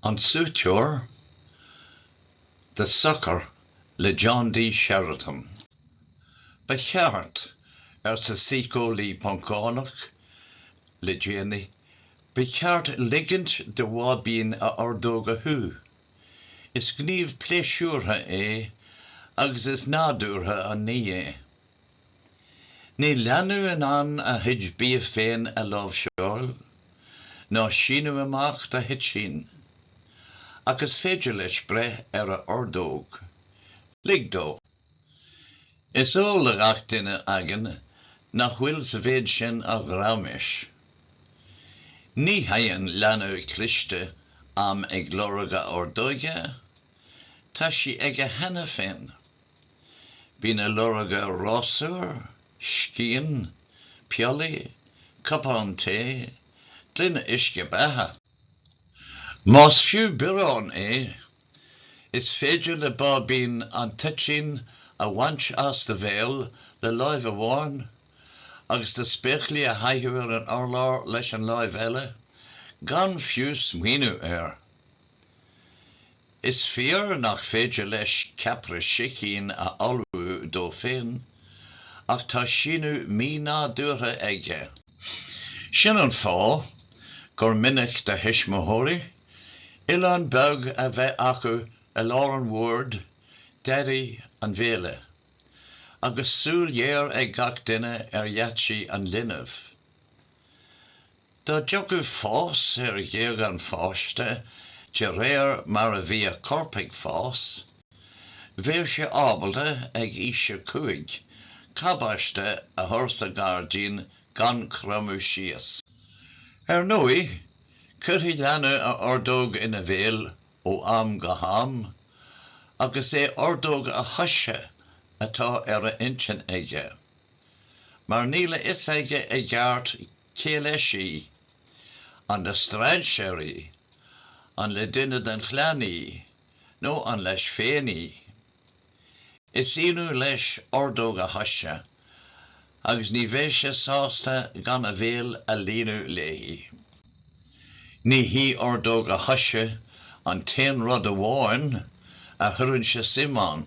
An Súiteoir The Sucker le John D. Sheridan. Ba cheart, arsa síceolaí Poncánach le déanaí, ba cheart ligint do bháibín a ordóg a shú. Is gníomh pléisiúrtha é agus is nádúrtha an ní é. Níl leanbh in ann a chuid bídh féin a láimhseáil, ná síneadh amach do thoitín, ach is féidir leis breith ar a ordóg. Lig dó. Is eol do ghach duine againn nach bhfuil sa mhéid sin ach raiméis. Ní théann leanbh cliste am ag lorg a ordóige, tá sí aige cheana féin. Bíonn ag lorg rásúr, scian, piollaí, cupán tae, gloine uisce beatha. Más fiú biorán é, is féidir le báibín an toitín a bhaint as do bhéal le láimh amháin agus na spéaclaí a chaitheamh ar an urlár leis an láimh eile, gan fiú smaoineamh air. Is fíor nach féidir leis ceapaire sicín a ullmhú dó féin, ach tá síneadh mínádúrtha aige. Sin an fáth gur minic do thuismitheoirí oileán beag a bheith acu i lár an bhoird deiridh an bhéile, agus súil ghéar ag gach duine ar gheaitsí an linbh. Dá dtiocfadh fás ar ghéag an pháiste de réir mar a bhí a chorp ag fás, bheadh sé ábalta ag aois a cúig cabáiste a chur sa ngairdín gan cromadh síos. Ar ndóigh, cuirfidh leanbh a ordóg ina bhéal ó am go ham agus í ordóg a choise atá ar a intinn aige, mar níl a fhios aige i gceart Cé leis í? An le strainséar í? An le duine den chlann í? Nó an leis féin í? Is ionadh leis ordóg a choise agus ní bheidh sé sásta gan a bhéal a líonadh léi. Ní hí ordóg a choise an t-aon rud amháin a chuireann sé suim ann.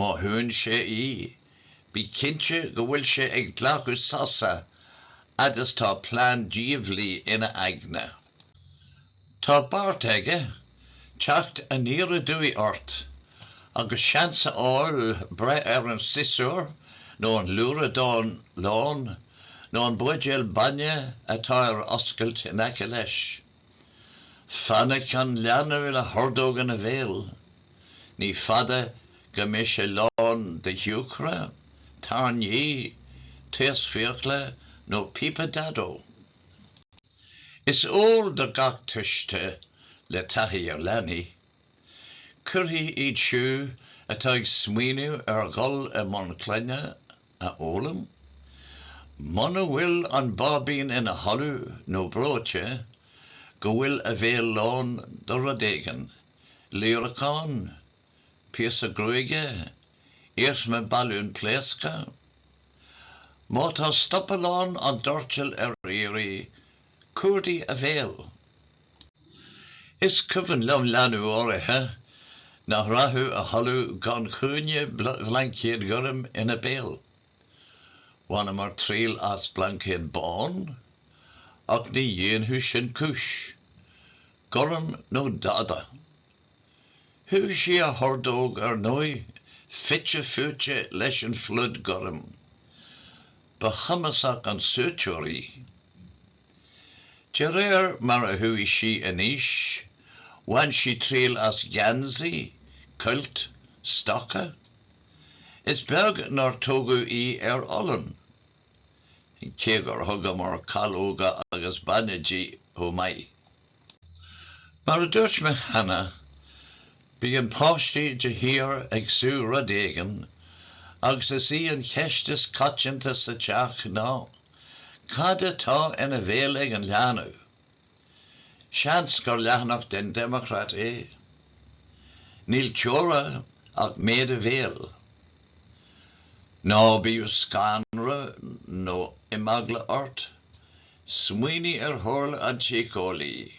Má shúnn sé í, bí cinnte go bhfuil sé ag glacadh sosa fhad is tá plean diabhlaí ina aigne. Tá beartaithe aige teacht aniar aduaidh ort agus seans a fháil breith ar an siosúr nó an luaradán lán nó an buidéal bainne atá ar oscailt in aice leis. Fainic an leanbh le hordóg ina bhéal. Ní fada go mbeidh sé lán de shiúcra, tairní, taos fiacla nó píopa Daideó. Is eol do gach tuiste é, le taithí ar leanaí. Caithfidh iad siúd atá ag smaoineamh ar dhul i mbun clainne a fhoghlaim. Muna bhfuil an báibín ina chodladh nó breoite go bhfuil a bhéal lán do rud éigin, líreacán, píosa gruaige, iarsma balúin pléasctha. Má tá stopallán an doirtil ar iarraidh, cuardaigh a bhéal! Is cuimhin liom leanbh áirithe nach rachadh a chodladh gan chúinne blaincéad goirm ina béal. Bhaineamar triail as blaincéad bán, ach ní dhéanfadh sin cúis. Gorm nó dada. Shúdh sí a hordóg, ar ndóigh, fite fuaite leis an phluid ghorm. Ba chumasach an súiteoir í. De réir mar a chuaigh sí in aois, bhain sí triail as geansaí, cuilt, stoca. Is beag nár tógadh í ar olann. Cé gur thugamar calóga agus bainne di chomh maith. Mar a dúirt mé cheana, bíonn páistí de shíor ag sú rud éigin agus is í an cheist is coitianta sa teach ná, Cad atá ina bhéal ag an leanbh? Seans gur leathanach den Democrat é. Níl teora ach méid a bhéil. Ná bíodh scanradh nó imeagla ort, Smaoinigh ar chomhairle an tsíceolaí.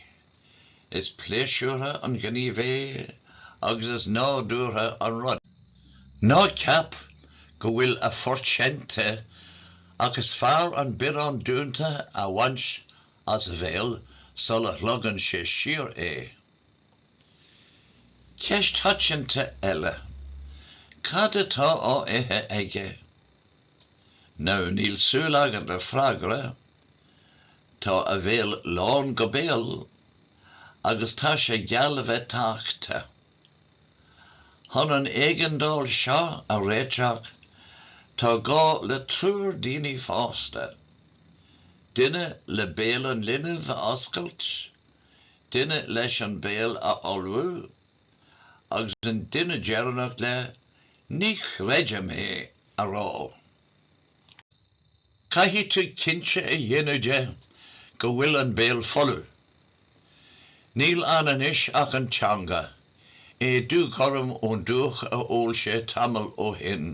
Is pléisiúrtha an gníomh é agus is nádúrtha an rud. Ná ceap go bhfuil a phort seinnte ach is fearr an biorán dúnta a bhaint as a bhéal sula shlogann sé siar é. Ceist choitianta eile, cad atá á ithe aige? Now, níl súil agat le freagra, tá a bhéal lán go béal agus tá sé geall le bheith tachta. Chun an éigeandáil seo a réiteach tá gá le triúr daoine fásta, duine le béal an linbh a oscailt, duine leis an béal a fholmhú agus an duine deireanach le 'Ní chreidim é! a rá. Caithfidh tú cinnte a dhéanamh de go bhfuil an béal folamh. Níl ann anois ach an teanga, é dúghorm ón dúch a ól sé tamall ó shin.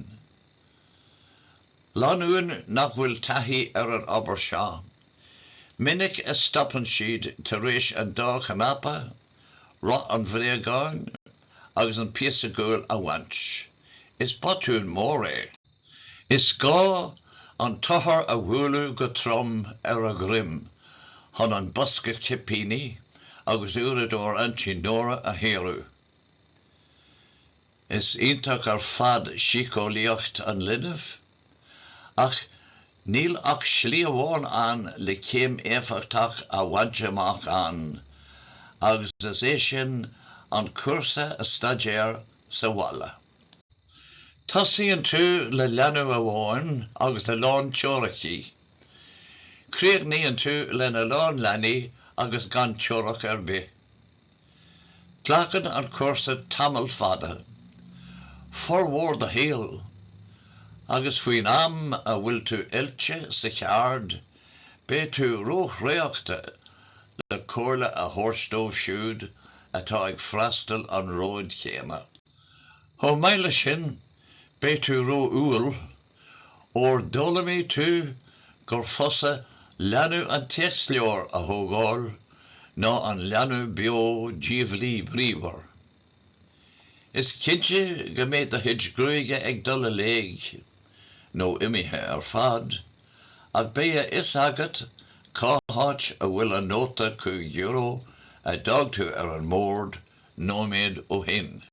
Lánúin nach bhfuil taithí ar an obair seo, minic a stopann siad tar éis an dá chnaipe, roth an bhréagáin, agus an píosa guail a bhaint. Is botún mór é. Is gá an t-othar a bhualadh go trom ar a dhroim chun an bosca cipíní agus uaireadóir Aintín Nóra a shaoradh. Is iontach ar fad síceolaíocht an linbh. Ach níl ach slí amháin ann le céim éifeachtach a bhaint amach ann, agus is é sin an cúrsa a staidéar sa bhaile. Tosaíonn tú le leanbh amháin agus a lán teoiricí. Críochnaíonn tú le a lán leanaí agus gan teoiric ar bith. Glacann an cúrsa tamall fada, formhór do shaoil, agus faoin am a bhfuil tú oilte sa cheard beidh tú róthraochta le comhairle a thabhairt dóibh siúd atá ag freastal an róid chéanna. Chomh maith leis sin beidh tú ró-umhal Óir d'fhoghlaimigh tú gur fusa leanbh an téacsleabhair a thógáil ná an leanbh beo diabhlaí bríomhar. Is cinnte go mbeidh do chuid gruaige ag dul i léithe, nó imithe ar fad, ach beidh a fhios agat cá háit a bhfuil an nóta cúig euro a d'fhág tú ar an mbord nóiméad ó shin.